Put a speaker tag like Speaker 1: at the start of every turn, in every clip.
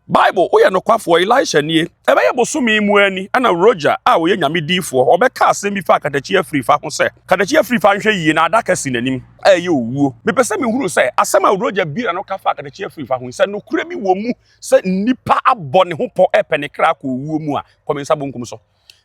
Speaker 1: Bible, Woyɛ Nokwafoɔ, Elisha Nie. Ɛbɛyɛ bosome mu ara ni na Roger a ɔyɛ Nyame diifoɔ ɔbɛka asɛm bi faa katakyi afirifa ho sɛ, Katakyi afirifa nhwɛ yie na adaka si n'anim a ɛyɛ owuo. Mepɛ sɛ mehunu sɛ asɛm a Roger biara no ka faa katakyi afirifa ho yi, sɛ nokorɛ bi wɔ mu sɛ nnipa abɔ ne ho pɔ repɛ ne kra akɔ owuo mu a, kɔ me nsa bonkum so.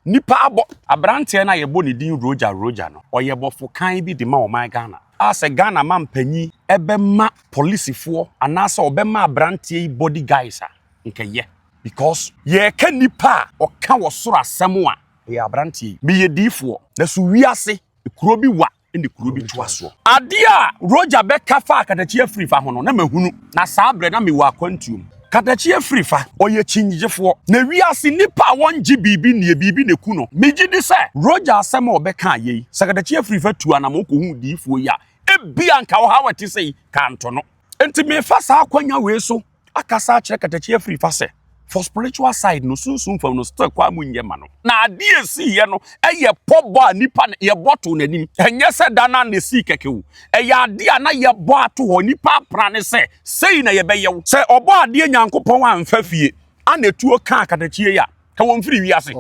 Speaker 1: Nnipa abɔ aberanteɛ no a yɛbɔ ne din Roger Roger no, ɔyɛ bɔfo kann bi de ma ɔman Ghana a sɛ Ghana mampanyin bɛma polisifoɔ anaasɛ ɔbɛma aberanteɛ yi body guys a, nka yɛ. Because yɛreka nnipa a ɔka wɔ soro asɛm a, ɛyɛ aberanteɛ yi. Meyɛ diifoɔ na so wiase kuro bi wa ne kuro bi toa soɔ. Adeɛ a Roger bɛka faa katakyi afiri fa ho no, na mahunu, na saa berɛ na mewɔ akwantuo mu. Katakyi afiri fa, ɔyɛ kyinnyegyefoɔ, na wiase nnipa a wɔnngye biribi nnie, biribi na ɛku no. Megye di sɛ Roger asɛm a ɔbɛka yei, sɛ katakyi afiri fa tu anamɔn kɔhu diyifoɔ yi a, ebia anka ɔhaw a ɛte sei ka nto no. Enti mefa saa akwanya wei so akasa akyerɛ katakyi afiri fa sɛ for spiritual side no sunsun fam no still kwa mu nyɛ ma no na ade a esiiɛ no ɛyɛ pɔbɔ a nipa yɛbɔ to n'anim ɛnyɛ sɛ da na na esii kɛkɛ o ɛyɛ ade a na yɛbɔ ato hɔ nipa apra ne sɛ sei na yɛbɛyɛ wo sɛ ɔbɔ adeɛ nyankopɔn amfa fie ana etuo kaa katakyie yi a ka wɔn firi wiase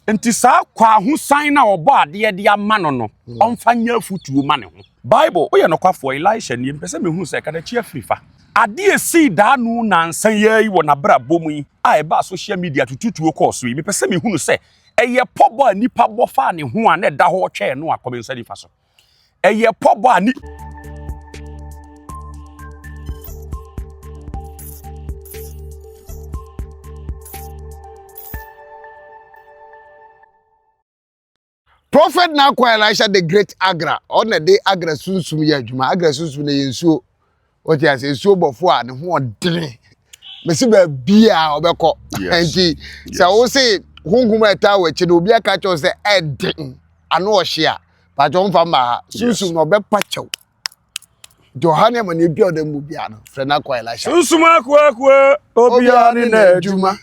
Speaker 1: nti saa kwahosan no a ɔbɔ adeɛ de ama no no hmm. ɔmfa nyɛ afotuo ma ne ho bible woyɛ nokwafoɔ elisha nie mpɛ sɛ mehu sɛ kadakyi afiri fa adeɛ sii daa no nansa yɛ yi wɔ n'abrabɔ mu yi a ɛbaa social media tututuo kɔɔ so yi mepɛ sɛ mehunu sɛ ɛyɛ pɔbɔ a nnipa bɔ faa ne ho a na ɛda hɔ twɛɛ no a kɔmensa nifa so ɛyɛ pɔbɔ a ne
Speaker 2: Prophet na akwa Elisha the great Agra ɔna de Agra sunsum yɛ adwuma Agra sunsum na yɛ nsuo wɔte ase nsuo bɔfo a ne ho ɔdene mesi baabiaa ɔbɛkɔ nti sɛ wo se honhom a ɛtaa wɔ akyi no obi aka kyɛw sɛ ɛden ano ɔhye a pakyɛ ɔmfa mma ha sunsum na ɔbɛpa kyɛw nti ɔha ne ama ne adua ɔda mu biaa no frɛ no akɔ ɛlahyɛ sunsum akoakoa
Speaker 1: obiaa ne na adwuma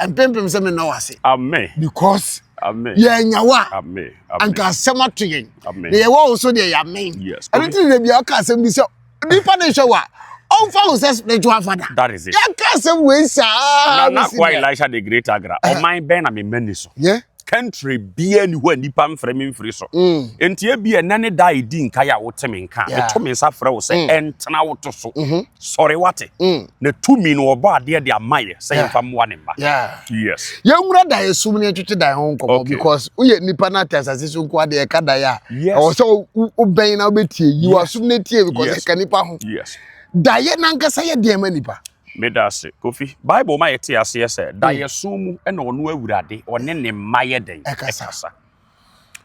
Speaker 2: mpempem sɛ
Speaker 1: menna wo
Speaker 2: ase amen because
Speaker 1: amen
Speaker 2: yɛanya
Speaker 1: wo a amen amen
Speaker 2: anka
Speaker 1: asɛm ato
Speaker 2: yɛn Amen. na yɛwɔ wo so deɛ
Speaker 1: yɛamen
Speaker 2: Yes. ɛno nti na bia
Speaker 1: ɔka asɛm
Speaker 2: bi sɛ nipa ne hwɛ wo a ɔmfa wo sɛ spiritual That father is it. yɛka asɛm
Speaker 1: wei
Speaker 2: saa na na bɛsi kwa dɛ. elisha de
Speaker 1: great agra ɔman bɛn na memma ni so yɛ country
Speaker 2: biara
Speaker 1: ni hɔ a nnipa mfrɛ me mfiri so nti ebi ɛnɛ ne da a ɛdi nkae a wote me nka meto me nsa frɛ wo sɛ ɛntena wo to so sɔre wate na tumi no ɔbɔ adeɛ de ama yɛ sɛ yɛmfa mmoa ne mma yes yɛnwura daeɛ
Speaker 2: som ne ɛtwetwe daeɛ ho nkɔmmɔ because woyɛ nnipa no ate asase so nko adeɛ ɛka daeɛ a ɛwɔ sɛ wobɛn na wobɛtie yi wasom no tie because ɛka nnipa ho daeɛ
Speaker 1: nankasa
Speaker 2: yɛ deɛ ma nnipa Medase Kofi.
Speaker 1: Bible ma yɛte aseɛ sɛ daeɛso mu na ɔno Awurade ɔne ne mma yɛ dɛn? Ɛkasa.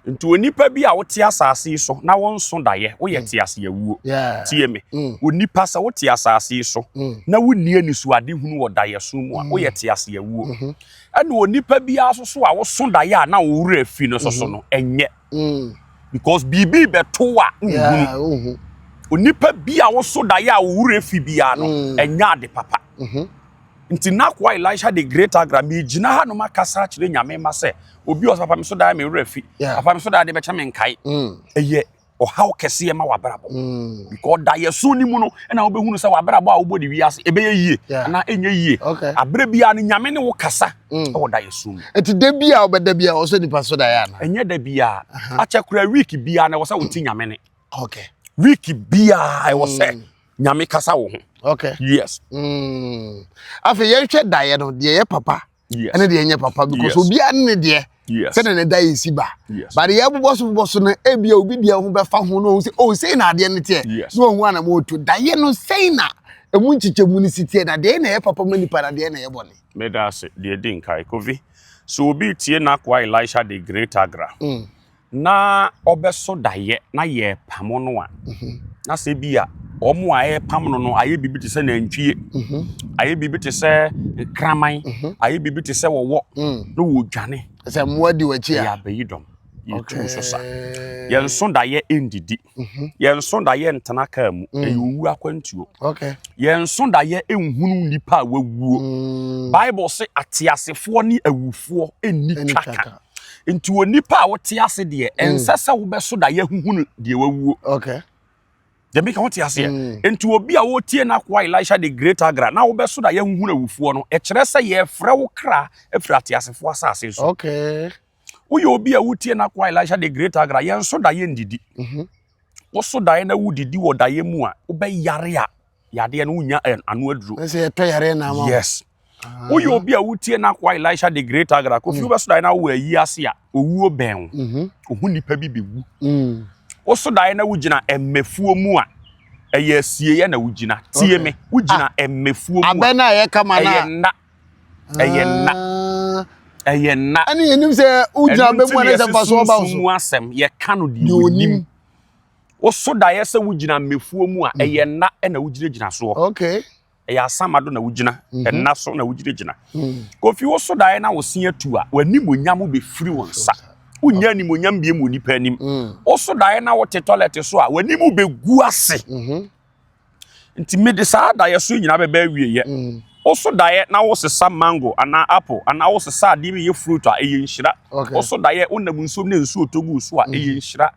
Speaker 1: Nti onipa bi a wote asase yi so na wonso daeɛ, woyɛ te ase awuo. Tie me. Onipa sɛ wote asase yi so na wonni anisoade hunu wɔ daeɛso mu a, woyɛ te ase awuo. Ɛna onipa biara so so a woso daeɛ a na wo werɛ afi no so so no, ɛnyɛ. Mm. Because biribi bɛto a nhunu. Onipa bi a woso daeɛ a owurɛ fi biara no mm. ɛnyɛ ade papa. Mm-hmm. Nti n'akoa Elisha de great agra megyina ha nom akasa akyerɛ nyame ma sɛ obi ɔsɛ papa me so daeɛ me werɛ fi. Papa me so daeɛ de bɛkyɛ me nkae. Mm. Ɛyɛ ɔhaw kɛseɛ ma w'abrabɔ mm. because daeɛso no mu no ɛna wobɛhunu sɛ w'abrabɔ a wobɔ de wiase ɛbɛyɛ yie anaa ɛnyɛ yie aberɛ biara no nyame ne wo kasa mm. ɛwɔ da yɛ so mu ɛti da bi a ɔbɛda
Speaker 2: bi a ɔsɛ nipa so da yɛ ana ɛnyɛ da bi a
Speaker 1: akyɛ kura week bi a na ɛwɔ sɛ wote mm. nyame ne okay week
Speaker 2: bi
Speaker 1: a ɛwɔ sɛ mm. nyame kasa wo ho okay yes
Speaker 2: mm. afei yɛnhwɛ da yɛ no deɛ yɛ papa yes ɛne deɛ nyɛ papa because obiara ne deɛ yes sɛdeɛ ne da yɛ si ba yes but yɛ bobɔ so bobɔ so no ebia obi deɛ ho bɛfa ho na ɔhu sɛ oh sei na adeɛ no teɛ yes na ɔhu anam ɔto da yɛ no sei na ɛmu nkyekyɛmu no si teɛ na deɛ na ɛyɛ papa ma nipa na deɛ na ɛyɛ bɔne Meda ase. Deɛ
Speaker 1: ɛdi nkae, Kofi, sɛ obi retie n'akoa Elisha de Great Agra na ɔbɛso daeɛ na yɛrepamo no a, na sɛ bi a wɔn a ɛrepam no no ayɛ biribi te sɛ nantwie, ayɛ biribi te sɛ kraman, ayɛ biribi te sɛ wɔwɔ na wɔredwane. Sɛ mmoa di w'akyi
Speaker 2: a. Yɛabɛyi dɔm,
Speaker 1: yɛtu so sa. Yɛnso daeɛ ndidi. mhm. yɛnso da yɛ ntena kaa mu mm. ɛyɛ owu akwantuo yɛnso
Speaker 2: da yɛ
Speaker 1: nhunu nnipa a wawuo mm. bible se ateasefoɔ ne awufoɔ nni twaka nti wɔ nnipa a wote ase deɛ mm. ɛnsɛ sɛ wobɛso da yɛhuhunu deɛ wawuo
Speaker 2: dɛbi ka
Speaker 1: wote aseɛ mm. nti obi a wotie no akoa elisha de great agra na wobɛso da yɛhuhunu awufoɔ no ɛkyerɛ sɛ yɛfrɛ wo kra afiri ateasefoɔ asase so
Speaker 2: woyɛ obi a
Speaker 1: wotie n'akoa elisha de great agra yɛn so daeɛ ndidi mhm. woso daeɛ na wodidi wɔ daeɛ mu a wobɛyare a yadeɛ no wonya eh, ano aduro yes ah.
Speaker 2: woyɛ
Speaker 1: obi a wotie n'akoa elisha de great agra kofi mhm. wobɛso daeɛ na wowɔ ayi ase a owuo bɛn wo mhm. ohu nipa bi bɛwu mm. woso daeɛ na wogyina mmɛfuo mu a ɛyɛ asieɛ na wogyina tie me wogyina ah. mmɛfuo mu a ɛyɛ
Speaker 2: nna ɛyɛ nna
Speaker 1: ɛyɛ nna ɛne yɛnim sɛ
Speaker 2: wogyina bɛmu ne sɛ mfasoɔ ba so mu asɛm yɛka no
Speaker 1: deɛ wonim woso daeɛ sɛ wogyina mmefuo mu a mm. ɛyɛ nna ɛna wogyinagyina soɔ okay ɛyɛ
Speaker 2: asama do
Speaker 1: na wogyina mhm. ɛna so na wogyinagyina mm. kofi woso daeɛ na wose atu a w'animonyam bɛfiri wo nsa wonya animonyam biem wɔ nipa anim mm. woso daeɛ na wote tɔlɛte so a w'anim bɛgu ase mhm. nti mede saa daeɛ so nyinaa bɛbɛ awieɛ mm. woso daeɛ na wosesa mango anaa apple anaa wosesa adeɛ bi yɛ fruit a ɛyɛ nhyira woso daeɛ wonam nsuom ne nsuo tɔ gu so a mm. ɛyɛ nhyira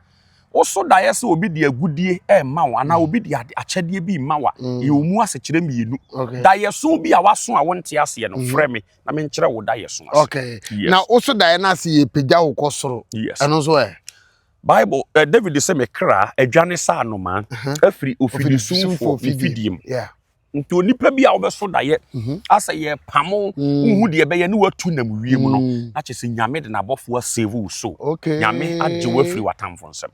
Speaker 1: woso daeɛ sɛ obi de agudie ɛma wo anaa mm. obi de akyɛdeɛ bi ma wa yɛ wo mu asekyerɛ mmienu daeɛ so bi a waso a wonte aseɛ no frɛ me na menkyerɛ wo daeɛ so ase na woso
Speaker 2: daeɛ no ase yɛ pagya wo kɔ soro ɛno nso ɛ Bible,
Speaker 1: eh, David se me kra adwane sɛ anomaa afiri ofirisumfoɔ ne fidiem. Nti onipa bi a wobɛso dayɛ mhm. asɛ yɛpamo mm. wohu deɛ ɛbɛyɛ ne watu nam wiem no mm. na kyɛ sɛ nyame de n'abɔfoɔ asave wo so nyame agye wo afiri w'atamfo nsɛm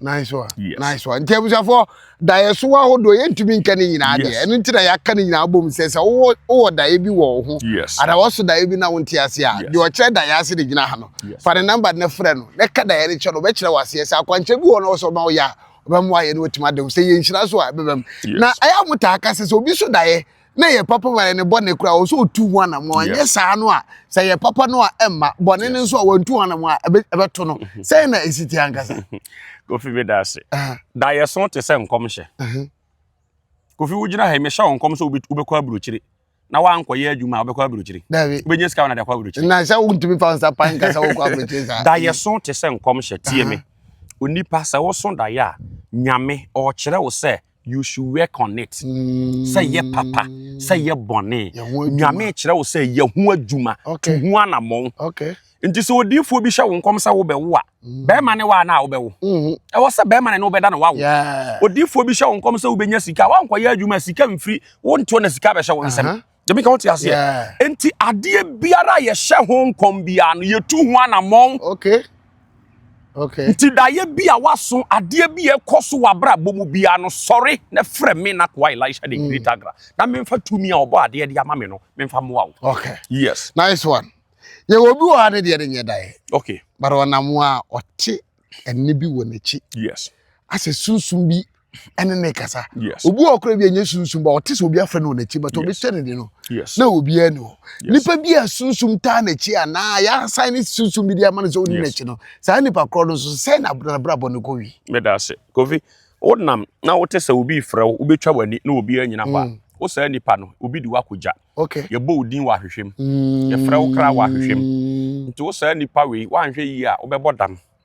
Speaker 2: nti abusuafoɔ Daeɛso ahodoɔ yɛntumi nka ne nyinaa deɛ. Yes. Ɛno nti na yɛaka ne nyinaa bom sɛ sɛ wowɔ wowɔ daeɛ bi wɔ wo ho Yes. anaa wɔso daeɛ bi na wonte ase a, Yes. deɛ ɔkyerɛ daeɛ ase de gyina ha no, Yes. fa ne namba no frɛ no na ka daeɛ no kyerɛ no, ɔbɛkyerɛ wo aseɛ. Sɛ akwankyerɛ bi wɔ hɔ na wɔsɛ ɔma woyɛ a, ɔbɛma woayɛ na watumi ada wo. Sɛ ɛyɛ nhyira nso a, ɛbɛba mu. Yes. Na ɛyɛ a motaa ka sɛ sɛ obi so daeɛ na ɛyɛ papa ma yɛn ne bɔne koraa ɔsɛ ɔtu ho anamɔ anyɛ saa no a sɛ yɛ papa no a ɛmma bɔne no nso a wɔntu ho anamɔ a ɛbɛto no mhm. sɛn na ɛsi te ankasa kofi bi da
Speaker 1: ase da yɛ so te sɛ nkɔmhyɛ kofi wogyina ha yi mehyɛ wo nkɔm sɛ wobɛkɔ aburokyire na wankɔyɛ adwuma a wobɛkɔ aburokyire wobɛnya sika wonade akɔ aburokyire na sɛ wontumi fa nsa
Speaker 2: pan ka sɛ wokɔ aburokyire saa da yɛ so te sɛ
Speaker 1: nkɔmhyɛ tie me onipa sɛ woso daeɛ a nyame ɔkyerɛ wo sɛ you should work on it sɛ yɛ papa sɛ yɛ bɔne nyame kyerɛ wo sɛ yɛ ho adwuma to ho anammɔn nti sɛ odiifoɔ bi hyɛ wo nkɔm sɛ wobɛwo a mm. bɛrima ne waa no a wobɛwo mm-hmm. ɛwɔ sɛ bɛrima ne ne wobɛda na wawo odiifoɔ bi hyɛ wo nkɔm sɛ wobɛnya sika woankɔyɛ adwuma sika mfiri wontoɔ na sika bɛhyɛ wo nsɛm Dɛbi ka wote aseɛ. Yeah. Nti adeɛ biara a yɛhyɛ ho nkɔm biara no yɛtu ho anammɔn. Okay. Okay. Nti daeɛ bi a waso adeɛ bi a ɛkɔ so wɔ abrabɔ mu biara no sɔre na frɛ me na koa Elisha de Great mm. Agra na memfa tumi a ɔbɔ adeɛ de ama me no memfa mmoa wo. Okay. Yes. Nice one.
Speaker 2: Yɛwɔ bi wɔ ha ne deɛ ne nyɛ daeɛ. Okay. But ɔnam a ɔte ɛne bi wɔ n'akyi. Yes. Asɛ
Speaker 1: sunsum
Speaker 2: bi ɛne ne kasa obi wɔ kora bi a ɛnyɛ sunsum ba ɔte sɛ obi afɛ no wɔ n'akyi but obi hyɛ ne de no na obiara ni hɔ nipa bi a sunsum taa n'akyi a na yɛasan ne sunsum bi de ama no sɛ ɔni n'akyi no saa nipa korɔ no nso sɛ na abrabɔ no kɔ wi meda ase kofi
Speaker 1: wonam na wote sɛ obi frɛ wo wobɛtwa w'ani na obi anyina hɔ a mm. wo saa nipa no obi de woakɔgya yɛbɔ wo din wɔ ahwehwɛm mm. yɛfrɛ wo kra wɔ ahwehwɛm nti wo saa nipa wei woanhwɛ yie a wobɛbɔ dam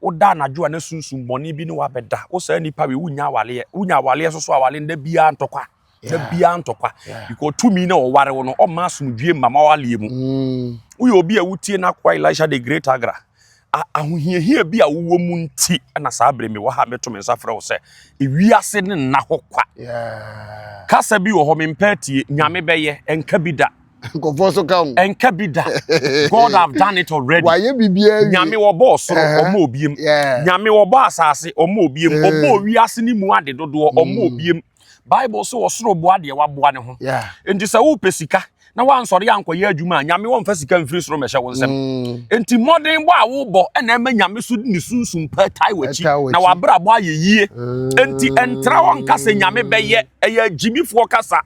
Speaker 1: wo da anadwo a na sunsum bɔne bi ne wo abɛda wo saa nipa wei wonya awaleɛ wonya awaleɛ soso awale no da biara ntɔkwa da biara ntɔkwa because tumi na ɔware wo no ɔma asomdwie mma ma awaleɛ mu mm. woyɛ obi a wotie no akoa elisha de great agra ahohiahia bi a wowɔ mu nti na saa bere mewɔ ha meto me nsa frɛ wo sɛ ewiase ne nna hɔ kwa kasa bi wɔ hɔ mempɛ atie nyame bɛyɛ ɛnka bi da nkɔfoɔ nso ka ho.
Speaker 2: ɛnka bi da
Speaker 1: god have done it already wayɛ biribiara wie nyame
Speaker 2: wɔbɔ ɔsoro
Speaker 1: Ɛhɛ. ɔma obiem Yeah. nyame wɔbɔ asase ɔma obiem Yeah. ɔbɔ owiase ne mu ade dodoɔ ɔma obiem bible so ɔsoro boa deɛ waboa ne ho Yeah. nti sɛ wopɛ sika na woansɔre ankɔyɛ adwuma a nyame wɔmfa sika mfiri soro mmɛhyɛ wo nsɛm Mm. nti mmɔden bɔ a wobɔ ɛna ɛma nyame so ne sunsum pa tae w'akyi Ɛtaa w'akyi. na wabrabɔ ayɛ yie nti ɛntra hɔ nka sɛ nyame bɛyɛ ɛyɛ agyimifoɔ kasa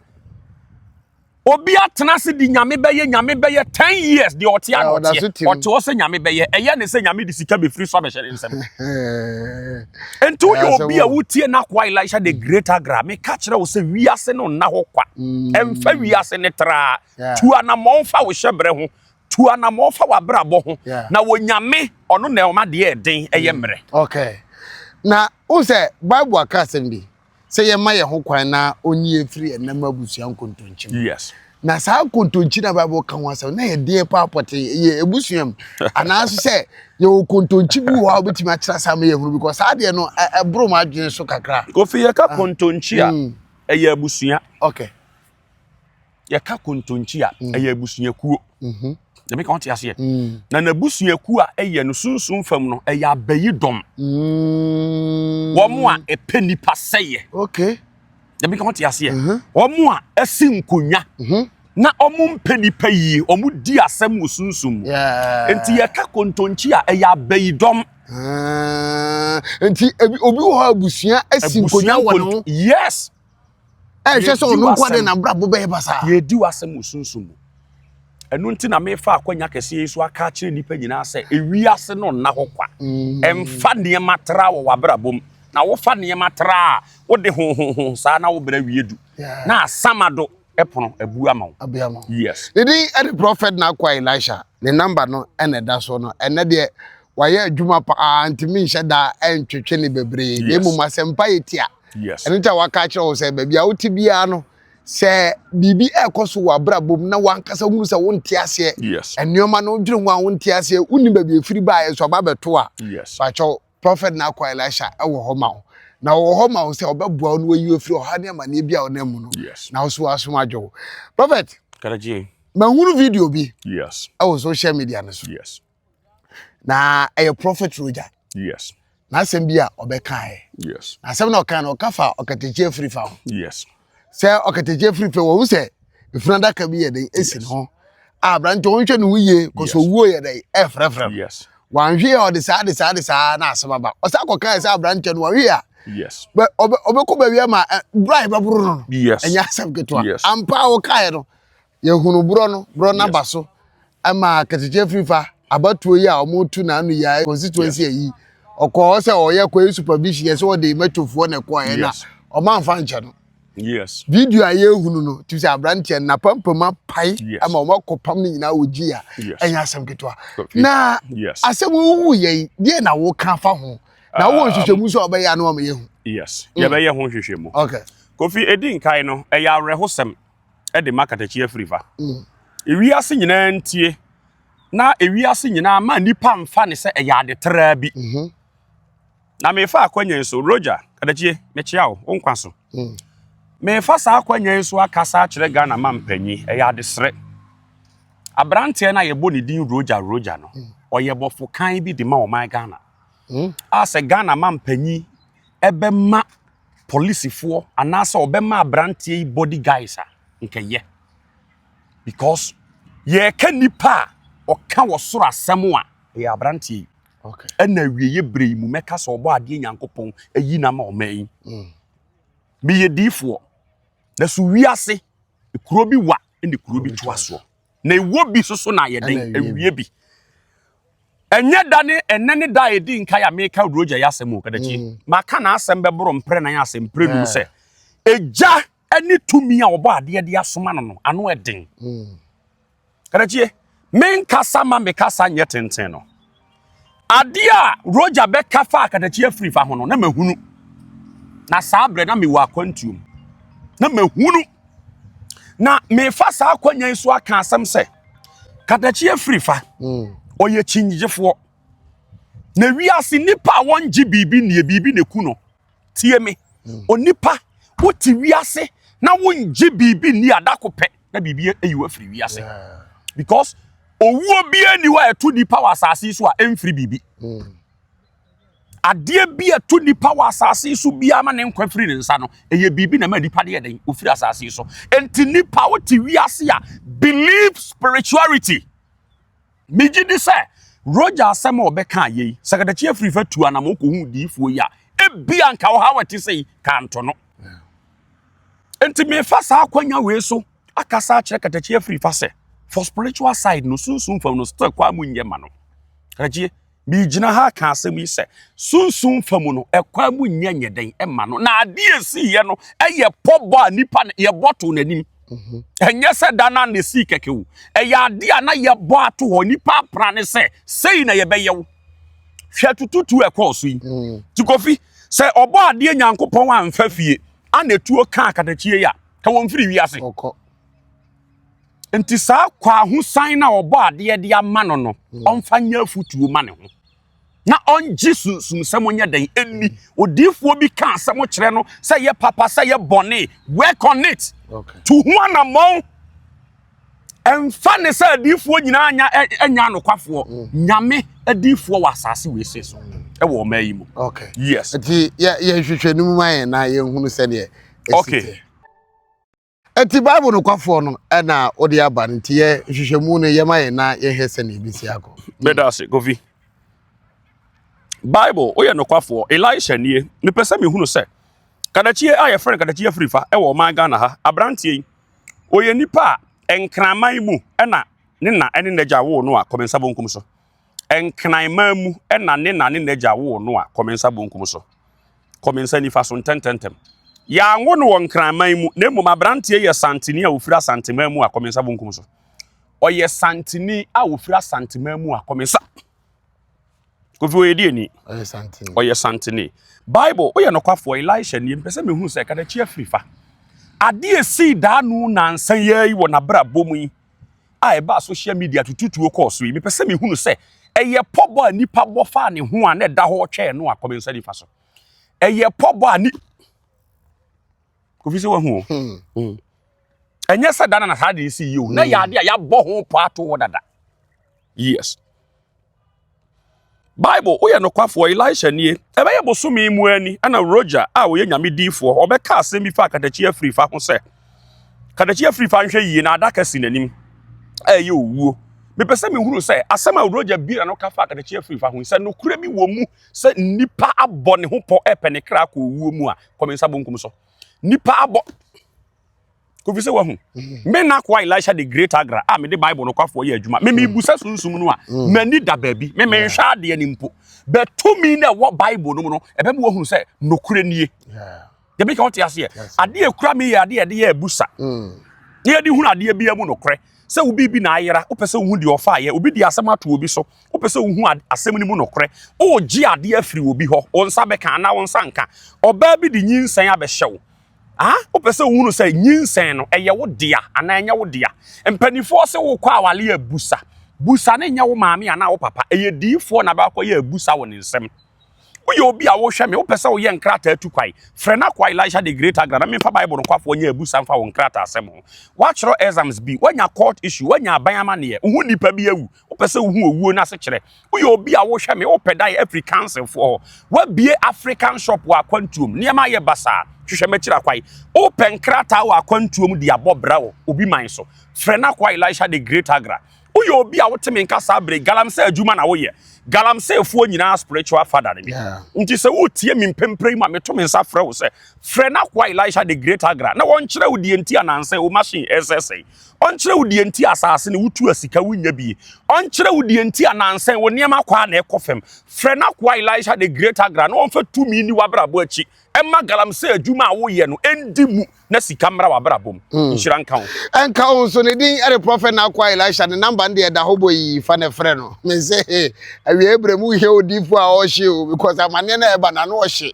Speaker 1: Obi atena ase di nyame bɛyɛ nyame bɛyɛ ten years deɛ ɔte a na ɔteɛ ɔte hɔ sɛ nyame bɛyɛ ɛyɛ ne sɛ nyame de sika bɛfiri so abɛhyɛ ne nsɛm nti woyɛ obi a wotie no akoa elisha the great agra meka kyerɛ wo sɛ wiase no nna hɔ kwa ɛmfa wiase ne traa tu anammɔn fa wo hyɛbrɛ ho tu anammɔn fa w'abrabɔ ho na wɔ nyame ɔno na ɔma deɛ ɛden ɛyɛ mmerɛ okay
Speaker 2: na wo sɛ bible aka asɛm bi sɛ yɛma yɛn ho kwan na ɔnyi yɛn firi ɛnam abusua nkontonkyi mu. Yes. Na
Speaker 1: saa nkontonkyi
Speaker 2: na Bible ka ho asɛm na yɛ deɛ paa pɔtee yɛ abusua mu anaaso sɛ yɛwɔ kontonkyi bi wɔ hɔ a wobɛtumi akyerɛ saa ma yɛhunu because saa deɛ no ɛboro m'adwene so kakra. Kofi yɛka ah. kontonkyi
Speaker 1: a mm. ɛyɛ abusua. Okay. yɛka kontonkyi a mm. ɛyɛ abusuakuo mhm. dɛmɛ ka wɔte aseɛ mm. na n'abusuakuo a ɛyɛ no sunsun fam no ɛyɛ abayi dɔm mm. wɔn a ɛpɛ nipa sɛyɛ
Speaker 2: dɛmɛ ka wɔte
Speaker 1: aseɛ mhm. wɔn a ɛsi nkonwa mhm. na wɔn mpɛ nipa yie wɔn di asɛm wɔ sunsun mu nti yɛka kontonkyi a ɛyɛ abayi dɔm. Ah,
Speaker 2: nti obi wɔ hɔ abusua asi nkonwa wɔ ne ho yes
Speaker 1: ɛnhwɛ
Speaker 2: sɛ ɔno nko de n'abrabɔ bɛyɛ basaa yɛdi w'asɛm wɔ
Speaker 1: sunsum mu ɛno nti na mefa akwanya kɛseɛ yi so aka akyerɛ nnipa nyinaa sɛ ewiase no nna hɔ kwa ɛmfa mm. nneɛma tra wɔ w'abrabɔ mu na wofa nneɛma tra a wode honhonhon saa na wobrɛ wie du na asama do ɛpono abu ama wo yes ne din
Speaker 2: ɛne
Speaker 1: prɔfɛt
Speaker 2: na akwa elisha ne namba no ɛna ɛda so no ɛnɛ deɛ wayɛ adwuma paa ntumi nhyɛ daa ɛntwetwe ne bebree na mmom asɛmpa yɛ tia Yes. ɛno nti a waka
Speaker 1: akyerɛ wo sɛ
Speaker 2: baabi a wote biara no sɛ biribi ɛrekɔ so wɔ abrabɔ mu na wankasa hunu sɛ wonte aseɛ Yes. nneɛma no wodwene ho a wonte aseɛ wonni baabi a ɛfiri baeɛ so aba abɛto a Yes. bakyɛw
Speaker 1: prɔfɛt no
Speaker 2: akɔ elisha ɛwɔ hɔ ma wo na ɔwɔ hɔ ma wo sɛ ɔbɛboa wo na wayi wo afiri ɔhaw ne amanneɛ bi a wonam mu no Yes. na wo so w'asom adwo wo prɔfɛt Karaji.
Speaker 1: mahunu video
Speaker 2: bi Yes. ɛwɔ social
Speaker 1: media
Speaker 2: no so Yes.
Speaker 1: na
Speaker 2: ɛyɛ prɔfɛt rogya yes
Speaker 1: n'asɛm bi a
Speaker 2: ɔbɛkaeɛ yes asɛm na
Speaker 1: ɔka no ɔka
Speaker 2: fa ɔkatakyi afiri fa ho yes
Speaker 1: sɛ ɔkatakyi
Speaker 2: afiri fa wɔhu sɛ ɛfunu adaka bi yɛ den ɛsi no ho a aberante wɔnhwɛ ne ho yie kɔ sɛ owuo yɛ dɛn ɛfrɛfrɛ no yes wanhwe
Speaker 1: a ɔde saa
Speaker 2: de saa de saa na asɛm aba ɔsa kɔkaeɛ sɛ aberante no wanhwe a yes
Speaker 1: ɔbɛkɔ baabi
Speaker 2: ama berɛ a ɛbɛboro no no ɛnyɛ asɛm ketewa ampa a wɔkaeɛ no Yɛhunu borɔ no, borɔ no aba so ma Katikye Afrifa abatoɔ yi a wɔretu n'ano yi a constituency ayi ɔkɔɔ hɔ sɛ ɔreyɛ kɔɛ supervision yɛ sɛ ɔde mɛtofoɔ na ɛkɔɔɛ na ɔmamfa nkyɛ no. Yes. Video
Speaker 1: a yɛhunu
Speaker 2: no tumi sɛ aberanteɛ no n'apampam apae ama wɔakɔpam no nyinaa wɔ gyi a ɛnyɛ asɛm ketewa. Na asɛm wohu yɛ yi deɛ na woka fa ho na wowɔ nhwehwɛmu nso a wɔbɛyɛ ano ama yɛhu. Yes, yɛbɛyɛ
Speaker 1: ho nhwehwɛmu. Okay. Kofi
Speaker 2: edi nkae
Speaker 1: no ɛyɛ awerɛhosɛm de ma katakyi afirifa. Ewiase nyinaa ntie na ewiase nyinaa ma nnipa mfa ne sɛ ɛyɛ ade traa bi. Mhm. Na mefa akwanyan so, Roger, kadakyie, mekyea wo, wo nkwa so. Mm. Mefa saa akwanyan so akasa akyerɛ Ghana ma mpanyin, ɛyɛ adesrɛ. Aberanteɛ no a yɛbɔ ne din Roger Roger no, mm. ɔyɛ bɔfo kan bi de ma ɔman Ghana. Mm. A sɛ Ghana ma mpanyin bɛma polisifoɔ anaasɛ ɔbɛma aberanteɛ yi body guys a nkɛyɛ because yɛka nipa a ɔka wɔ soro asɛm a ɛyɛ aberanteɛ yi ɛna
Speaker 2: awieɛ berɛ
Speaker 1: yi mu mɛka sɛ ɔbɔ adeɛ nyankopɔn ayi na ma ɔma yi mm. meyɛ diifoɔ na so wiase kuro bi wa ne kuro bi toa soɔ na ɛwɔ bi soso na ayɛ den awie bi ɛnyɛ da ne ɛnɛ ne da a ɛdi nkae a meka odurogya yɛ asɛm o kadakyi mm. maka na asɛm bɛboro mprɛ nan asɛm mprɛ num sɛ ɛgya ne tumi a wɔbɔ adeɛ de asoma no no ano ɛden mm. kadakyie menkasa ma mekasa nyɛ tenten no Adeɛ a Roger bɛka faa katakyi afiri fa ho no, na mahunu. Na saa berɛ na mewɔ akwantuom. Na mahunu. Na mefa saa akwanya yi so aka asɛm sɛ, katakyi afiri fa, mm. ɔyɛ kyingyegyefoɔ. Na wiase nnipa a wɔngye biribi nnie, biribi na ɛku no. tie me hmm. onipa wote wiase na wongye biribi nni adako pɛ na biribi ayi wafiri wiase because owuo biara ni hɔ a ɛto nipa wɔ asase so a ɛmfiri biribi hmm. adeɛ bi a ɛto nipa wɔ asase so biara ma ne nkwa firi ne nsa no ɛyɛ biribi na ma nipa deɛ dɛn ofiri asase so nti nipa wote wiase a believe spirituality. Megye di sɛ Roger asɛm a ɔbɛkaa yei, sɛ kadakye afiri fa tu anam ɔkɔhu diifoɔ yi a, ebi anka ɔhaw a ɛte sɛ yi kanto no. Nti mefa saa akwanya wei so akasa akyerɛ kadakye afiri fa sɛ, for spiritual side no, sunsum fam no, still kɔ a mu nyɛ ma no. Kadakyie. Megyina ha reka asɛm yi sɛ sunsum fa mu no ɛkwan mu nyɛ nyɛ dɛn ɛma no na adeɛ esi yɛ no ɛyɛ pɔbɔ a nipa na yɛbɔ to n'anim mhm. ɛnyɛ sɛ da na na esi kɛkɛ o ɛyɛ adeɛ a na yɛbɔ ato hɔ nipa apra ne sɛ sei na yɛbɛyɛ wo hwɛ tututu ɛkɔɔ so yi mhm. tikofi sɛ ɔbɔ adeɛ nyankopɔn anfa fie ana etuo kaa katakyie yi a ka wɔn firi wiase. Enti saa kwahosan no a ɔbɔ adeɛ de ama no no, hmm. ɔmfa nyɛ afotuo ma ne ho. Na ɔngye sunsumsɛm ɔnyɛ dɛn ɛnni. Odiifoɔ bi ka asɛm kyerɛ no sɛ yɛ papa sɛ yɛ bɔne. Work on it. To ho anammɔn. Ɛmfa ne sɛ adiifoɔ nyinaa nya ɛnya anokwafoɔ. Hmm. Nyame adiifoɔ wɔ asase wei se so. Hmm. Ɛwɔ ɔma yi mu. Yes. Nti
Speaker 2: yɛhwehwɛ no mu ma yɛn na yɛhunu sɛdeɛ ɛsi teɛ. Enti Bible nokwafoɔ no na wode aba no nti yɛ nhwehwɛmu no yɛma yɛn na yɛhwɛ sɛnea ɛbɛsi akɔ. Meda ase Kofi.
Speaker 1: Bible woyɛ nokwafoɔ. Elisha nie. Mepɛ sɛ mehunu sɛ kadakyie a yɛfrɛ no kadakyie afirifa wɔ ɔman Ghana ha. Aberanteɛ yi ɔyɛ nipa a nkraman mu na ne na ne n'agya woo no a Kɔmensah bonkum so. Nkran man mu na ne na ne n'agya woo no a kɔ me nsa bonkum so, kɔ me nsa nifa so ntɛntɛntɛm. Yɛanwo no wɔ Nkran man mu, na mmom aberanteɛ yɛ Santini a ɔfiri Asanteman mu a kɔ me nsa bonkum so. Ɔyɛ Santini a ɔfiri Asanteman mu a kɔ me nsa. Kofi ɔyɛ diani. Ɔyɛ Santini. Ɔyɛ Santini. Bible, woyɛ nokwafoɔ, Elisha nie, mpɛ sɛ mehu sɛ kadakyi afiri fa. Adeɛ sii daa no nansa yɛi wɔ n'abrabɔ mu yi. a ɛbaa social media tututuo kɔɔ so yi, mepɛ sɛ mehunu sɛ ɛyɛ pɔbɔ a nipa bɔ faa ne ho a na ɛda hɔ twɛɛ no a kɔmi nsa nifa so. Ɛyɛ pɔbɔ a ni kofi sɛ wahu o. Hmm. Hmm. Ɛnyɛ sɛ dana na saa de si yi o. Na yɛ hmm. ade a yɛabɔ ho pɔ ato hɔ dada. Yes. Bible, Woyɛ Nokwafoɔ, Elisha Nie. Ɛbɛyɛ bosome mu ara ni na Roger a ɔyɛ Nyame diifoɔ ɔbɛka asɛm bi faa katakyi afirifa ho sɛ, Katakyi afirifa nhwɛ yie na adaka si n'anim a ɛyɛ owuo. Mepɛ sɛ mehunu sɛ asɛm a Roger Bira no ka faa katakyi afirifa ho yi, sɛ nokorɛ bi wɔ mu sɛ nnipa abɔ ne ho pɔ repɛ ne kra akɔ owuo mu a, kɔ me nsa bonkum so. Nnipa abɔ. kofi sɛ wahu mm. me na koa elisha de great agra a mede bible no kwafoɔ yɛ adwuma me mebusa mm. sunsum no a mm. m'ani da baabi me menhwɛ adeɛ no mpo bɛtumi na ɛwɔ bible no mu no ɛbɛma wahunu sɛ nokorɛ nie dɛbi ka wote aseɛ adeɛ kura me yɛ adeɛ ɛde yɛ abusa ne yɛde hunu adeɛ bia mu nokorɛ sɛ obi bi na ayera wopɛ sɛ wohu deɛ ɔfa ayɛ obi de asɛm ato obi so wopɛ sɛ wohu asɛm no mu nokorɛ wogye adeɛ afiri obi hɔ wo nsa bɛka anaa wo nsa nka ɔbaa bi de nyinsɛn abɛhyɛ wo a wopɛ sɛ wohunu sɛ nyinsɛn no ɛyɛ wo dea anaa ɛnyɛ wo dea mpanimfoɔ se wokɔ awale abusa busa ne nyɛ wo maame anaa wo papa ɛyɛ diifoɔ na bɛakɔ yɛ abusa wɔ ne nsɛm woyɛ obi a wohwɛ me wopɛ sɛ woyɛ nkrataa tu kwae frɛ no akɔ elisha de great agra na memfa bible nokwafoɔ nyɛ abusa mfa wo nkrataa asɛm ho woakyerɛ exams bi woanya court issue woanya aban amanneɛ wo ho nnipa bi awu Wopɛ sɛ wohu owuo no asekyerɛ? Woyɛ obi a wohwɛ me, wopɛ da yɛ afiri councilfoɔ hɔ. Woabie African shop wɔ akwantuom. Nneɛma ayɛ basaa. Hwehwɛ m'akyiri akwae. Wopɛ nkrataa wɔ akwantuom de abɔ bra wɔ obi man so. Frɛ n'akoa Elisha the Great Agra. Woyɛ obi a wote me nka saa bere galamsey adwuma na woyɛ. Galamseyfoɔ nyinaa spiritual father ne me. Nti sɛ woretie me mprempren ma meto me nsa frɛ wo sɛ frɛ n'akoa Elisha the Great Agra na wɔnkyerɛ wo deɛ nti a nnansa yi wo machine resɛesɛe. Ɔnkyerɛ wo deɛ nti a asase no wotu a sika wonnya bi. Ɔnkyerɛ wo deɛ nti a nansa yi wo nneɛma kwaa na ɛkɔ fam. Frɛ n'akoa Elisha the Great Agra na ɔmfa tumi nni w'abrabɔ akyi mma galamsey adwuma a woyɛ no ndi mu na sika mmra w'abrabɔ mu. Nhyira nka wo. Ɛnka wo nso. Ne din
Speaker 2: de Prɔfɛt N'akoa Elisha. Ne namba no deɛ ɛda hɔ bɔ yi. Fa na frɛ no. Mese he, awiei berɛ mu wohia odiyifoɔ a ɔhye o because amaneɛ no a ɛba no ano ɔhye.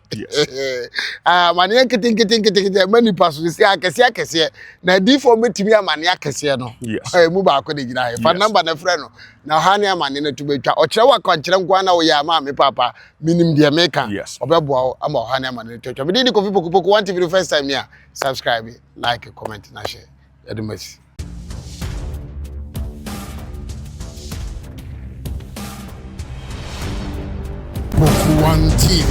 Speaker 2: Amaneɛ nketenkete nketenkete ɛma nnipa so. Ɛsi akɛseɛ akɛseɛ. na adiifoɔ bɛtumi amane akɛseɛ no ɛmu baako de gyina he fa namba no frɛ no na ɔha ne amane no to bɛtwa ɔkyerɛ wakwankyerɛ nko na woyɛ ama me paapa menim deɛ meka ɔbɛboa wo ama ɔha ne amane no twatwa mede ne kofi pokopoko one tv no first time ni a subscribe like comment na hyɛ yɛde masi One TV.